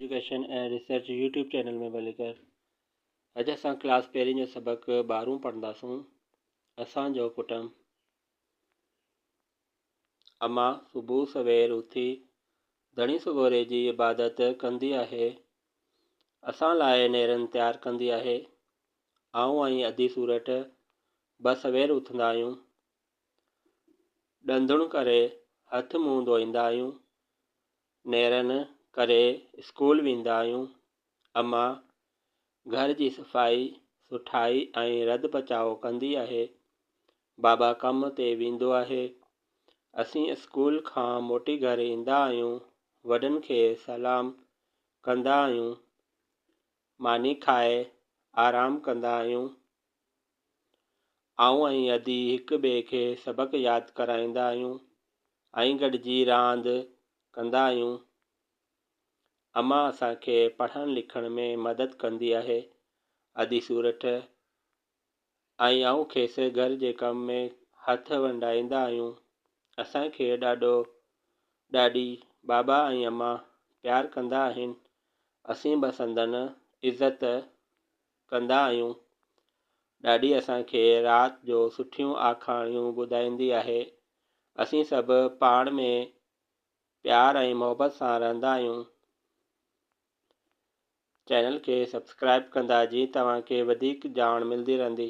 Education ۽ research YouTube channel ۾ ڀلي ڪر. اڄ اسان ڪلاس پهرين جو سبق ٻارهون پڙهنداسون. اسان جو ڪٽنب. اما صبح سوير اٿي ڌڻي سڳوري جي عبادت ڪندي آهي. اسان لاء نيرن تيار ڪندي آهي. آئون ۽ ادي سورٺ به سوير اٿندا آهيون. ڏندڻ ڪري هٿ منهن ڌوئيندا آهيون. نيرن ڪري اسڪول ويندا آهيون. اما گهر جي صفائي سٺائي ۽ رڌ پچاء ڪندي آهي. بابا ڪم تي ويندو آهي. اسين اسڪول کان موٽي گهر ايندا آهيون وڏن کي سلام ڪندا آهيون ماني کائي آرام ڪندا آهيون. آئون ۽ ادي هڪ ٻئي کي سبق ياد ڪرائيندا آهيون ۽ گڏجي راند ڪندا آهيون. اما اسان کي پڙهڻ لکڻ ۾ مدد ڪندي آهي. ادي سورٺ ۽ آئون کيس گهر جي ڪم ۾ هٿ ونڊائيندا آهيون. اسان کي ڏاڏو، ڏاڏي، بابا ۽ اما پيار ڪندا آهن. اسين به سندن عزت ڪندا آهيون. ڏاڏي اسان کي رات جو سٺيون آکاڻيون ٻڌائيندي آهي. اسين سڀ پاڻ ۾ پيار ۽ محبت سان رهندا آهيون. چينل کي سبسڪرائب ڪندا جيئن توهان کي وڌيڪ ڄاڻ ملندي رهندي.